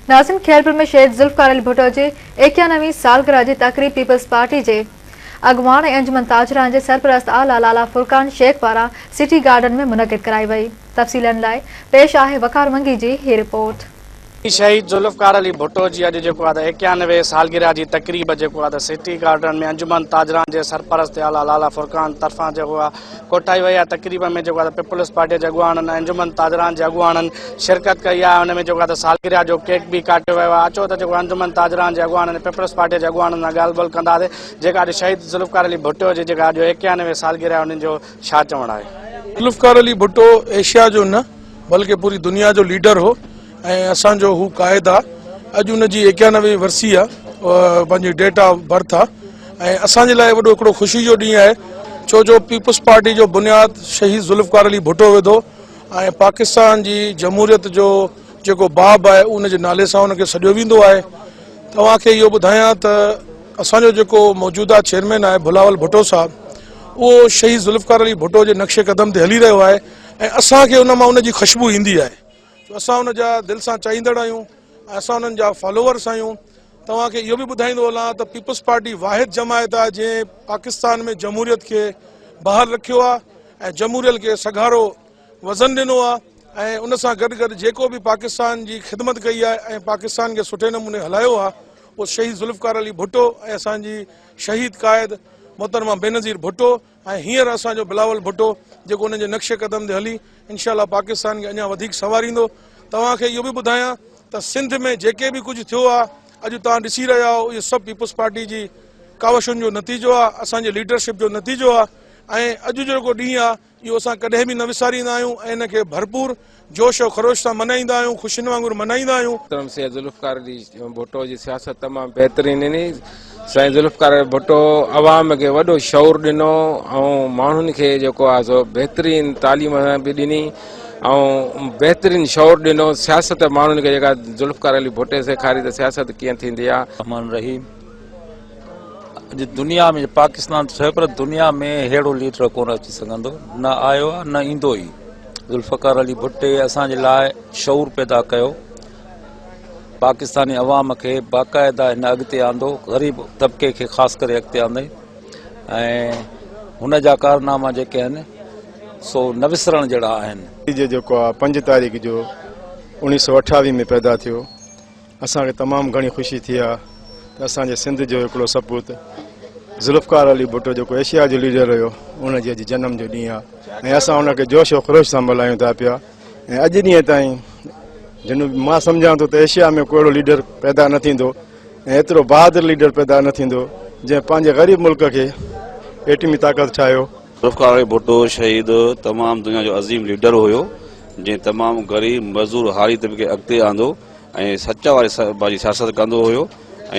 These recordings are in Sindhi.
ناظرين خيرپور ۾ شهيد ذوالفقار علي ڀٽو جي ايڪيانوي سالگرهه جي تقريب پيپلز پارٽي جي اڳواڻ ۽ انجمن تاجران جي سرپرست اعليٰ لالا فرقان شيخ پاران سٽي گارڊن ۾ منعقد ڪرائي وئي تفصيلن لاء پيش آهي وقار منگي جي هي رپورٽ. شهيد ذوالفقار علي ڀٽو جي اڄ جيڪو آهي ته ايڪيانوي سالگرهه جي تقريب جيڪو آهي ته سٽي گارڊن ۾ انجمن تاجران جي سرپرست اعليٰ لالا فرقان طرفان جيڪو آهي ڪوٺائي وئي آهي تقريب ۾ جيڪو آهي پيپلز پارٽي جي اڳواڻن ۽ انجمن تاجران جي اڳواڻن شرڪت ڪئي آهي ان ۾ جيڪو آهي سالگرهه جو ڪيڪ به ڪاٽيو ويو آهي اچو ته جيڪو انجمن تاجران جي اڳواڻن ۽ پيپلز پارٽي جي اڳواڻن سان ڳالهه ٻولهه ڪنداسي جيڪا اڄ شهيد ذوالفقار علي ڀٽو جي جيڪا اڄ ايڪيانوي سالگرهه آهي انهن جو ڇا چوڻ آهي. ذوالفقار علي ڀٽو ايشيا جو نه بلڪه پوري دنيا جو ليڊر هو. ۽ اسان جو هو قائد آ اڄ ان جي ايڪيانوي ورسي آ پنهنجي ڊيٽ آف برٿ آ ۽ اسان جي لاء وڏو هڪڙو خوشي جو ڏينهن آهي ڇو جو پيپلز پارٽي جو بنياد شهيد ذوالفقار علي ڀٽو وڌو ۽ پاڪستان جي جمهوريت جو جيڪو باب آهي ان جي نالي سان ان کي سڏيو ويندو آهي توهان کي اهو ٻڌايان ته اسان جو جيڪو موجوده چيئرمين آهي بلاول ڀٽو صاحب اهو شهيد ذوالفقار علي ڀٽو جي نقش قدم تي هلي رهيو آهي ۽ اسان کي ان مان ان جي خوشبو ايندي آهي جو اسان ان جا دل سان چاهيندڙ آهيون ۽ اسان انهن جا فالوورس آهيون توهان کي اهو به ٻڌائيندو هلان ته پيپلز پارٽي واحد جماعت آهي جنهن پاڪستان ۾ جمهوريت کي بحال رکيو آهي ۽ جمهوريل کي سگهارو وزن ڏنو آهي ۽ ان سان گڏ گڏ جيڪو به پاڪستان جي خدمت ڪئي آهي ۽ پاڪستان کي سٺي نموني هلايو آهي اهو شهيد ذوالفقار علي ڀٽو ۽ اسان جي شهيد قائد محترمه بينظير ڀٽو ۽ هينئر اسان جو بلاول ڀٽو جيڪو انهن جي نقش قدم تي هلي انشاء الله پاڪستان کي اڃا وڌيڪ سنواريندو توهان کي اهو به ٻڌايان ته سنڌ ۾ جيڪي به ڪجهه ٿيو آهي اڄ توهان ڏسي رهيا آهو اهو سڀ پيپلز پارٽي جي ڪاوشن جو نتيجو آهي اسان جي ليڊرشپ جو نتيجو آهي ۽ اڄ جو جيڪو ڏينهن آهي اهو اسان ڪڏهن به نه وساريندا آهيون ۽ ان کي ڀرپور جوش و خروش سان منائيندا آهيون خوشين وانگر منائيندا آهيون. محترم سيد ذوالفقار علي ڀٽو جي سياست تمام بهترين ڏني سائين ذوالفقار علي ڀٽو عوام کي وڏو شعور ڏنو ۽ ماڻهن کي جيڪو آهي سو بهترين تعليم به ڏني ۽ بهترين شعور ڏنو سياست ماڻهن کي جيڪا ذوالفقار علي ڀٽي سيکاري ته سياست ڪيئن ٿيندي آهي. الرحمٰن الرحيم. اڄ دنيا ۾ پاڪستان ته ٺهيو پر دنيا ۾ ههڙو ليڊر ڪونه اچي سگهندو نه آيو آهي نه ايندو ئي ذوالفقار علي ڀٽي اسان جي لاء شعور پيدا ڪيو پاڪستاني عوام کي باقاعده هن اڳتي آندو غريب طبقي کي خاص ڪري اڳتي آندي ۽ هن جا ڪارناما جيڪي آهن سو نه وسرڻ جهڙا آهن جيڪو پنج تاريخ جو اوڻيهه سؤ اٺاويهه ۾ پيدا ٿيو اسان کي تمام گهڻي خوشي ٿي آهي ته اسان جي سنڌ جو هڪڙو سپوت ذوالفقار علي ڀٽو جيڪو ايشيا جو ليڊر رهيو ان جي اڄ جنم جو ڏينهن آهي ۽ اسان ان کي جوش و خروش سان ملهايون ٿا پيا ۽ اڄ ڏينهن تائين جن مان سمجهان ٿو ته ايشيا ۾ ڪهڙو ليڊر پيدا نه ٿيندو ۽ ايترو بهادر ليڊر پيدا نه ٿيندو جنهن پنهنجي غريب ملڪ کي ايٽمي طاقت ٺاهيو ذوالفقار علي ڀٽو شهيد تمام دنيا جو عظيم ليڊر هيو جنهن تمام غريب مزدور هاري طبقي کي اڳتي آندو ۽ سچ واري سربراهه جي سياست ڪندو هيو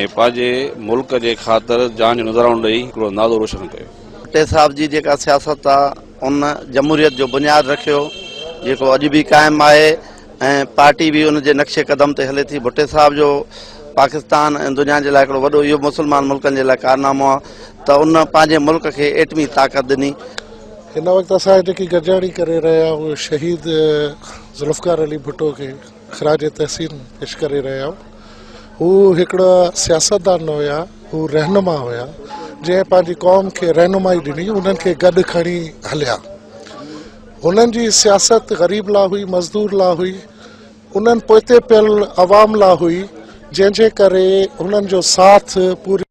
۽ پنهنجي ملڪ جي خاطر جان جو نذرانو ڏئي هڪڙو نالو روشن ڪيو. ڀٽي صاحب جي جيڪا سياست آ ان جمهوريت جو بنياد رکيو جيڪو اڄ به قائم آهي ۽ پارٽي به ان جي نقش قدم تي هلي ٿي ڀٽي صاحب جو پاڪستان ۽ دنيا جي لاء هڪڙو وڏو اهو مسلمان ملڪن جي لاء ڪارنامو آ ته ان پنهنجي ملڪ کي ايٽمي طاقت ڏني. هن وقت اسان جيڪي گڏجاڻي ڪري رهيا آهيون شهيد ذوالفقار علي ڀٽو کي. خراج تحسين پيش ڪري رهيا آهيون هو هڪڙا سياستدان نه هيا هو رهنما هيا جنهن پنهنجي قوم کي رهنمائي ڏني انهن کي گڏ کڻي هليا هنن جي سياست غريب لا هئي مزدور لا هئي انهن پوئتي پيل عوام لا هئي جنهن جي ڪري هنن جو ساٿ پوري